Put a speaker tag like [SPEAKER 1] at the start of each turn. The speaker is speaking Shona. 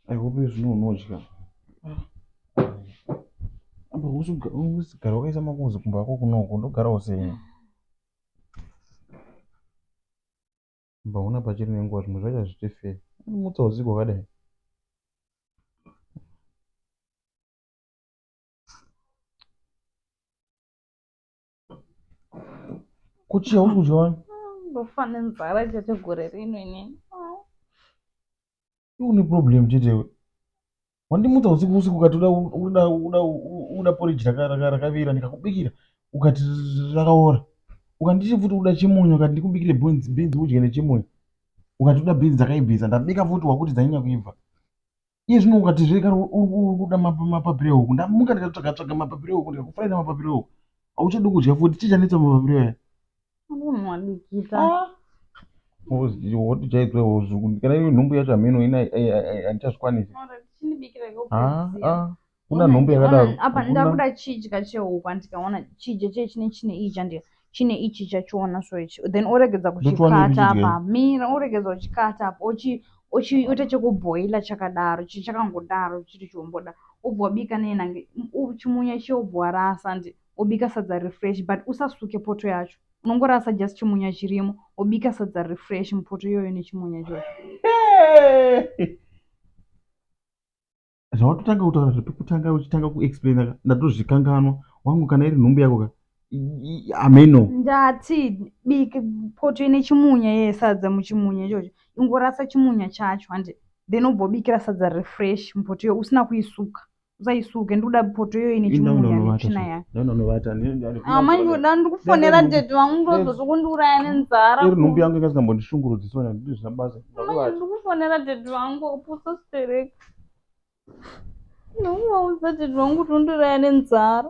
[SPEAKER 1] I hope zvino unodya. Apa usigara wakaisa makonzi kumba kwako kunoko ndogara usenya. Kumba una pachiri nenguva zvimwe zvacho hazviite fair. Mutsa usiku wakadai. kuchi hausi kudya wani ndofa nenzara
[SPEAKER 2] chete gore rino inini
[SPEAKER 1] une problem chetewe wandimutsa usiku usiku ukati uda uda uda uda porridge rakavira ndikakubikira ukati rakaora ukanditi futi uda chimunyu ukati ndikubikire beans beans udye nechimunyu ukati uda beans dzakaibvisa ndabika futi wakuti dzanyanya kuibva iye zvino ukati zve kana uri kuda mapapiro ehuku ndamuka ndikatsvaga tsvaga mapapiro ehuku ndikakufuraira mapapiro ehuku hauchadi kudya futi chii chanetsa mapapiro aya wotijaidzwa hozvuku kana iyo nhumbu yacho hameno ina andichazvikwanisi kuna Ona- nhombe yakadaro ona- apa Hakuna- ndakuda
[SPEAKER 2] chidya chehuku andikaona chidya chee chine chine iyi chandika chine ichi chachiona so ichi then oregedza Ndochiwana kuchikata ichi chidya apa mira oregedza kuchikata apa ochi ochiita chekubhoila chakadaro chi- chakangodaro chiri chomboda obva wabika nenange chimunya chiye obva warasa and obika sadza refresh but usasuke poto yacho unongorasa just chimunya chirimo obika sadza refresh mupoto iyoyo nechimunya ichocho Hey!
[SPEAKER 1] zvawatotanga kutaura zvepekutanga uchitanga kuexplaina ka ndatozvikanganwa wangu kana iri nhumbu yako ka hameno ndati
[SPEAKER 2] biki poto ine chimunya ye sadza muchimunya ichocho ingorasa chimunya chacho handi then ubobikira sadza refresh mupoto iyo usina kuisuka usaisuke ndikuda poto iyo ine chimunya netsvina yayo ndaunanovata amai ndoda ndikufonera tete vangu ndozozokundiuraya nenzara iri nhumbu yangu
[SPEAKER 1] ikasingambondishungurudzisona ndizvina basa ndikufonera
[SPEAKER 2] tete vangu upusa stereka Nauma usati zvangu tondiraya nenzara.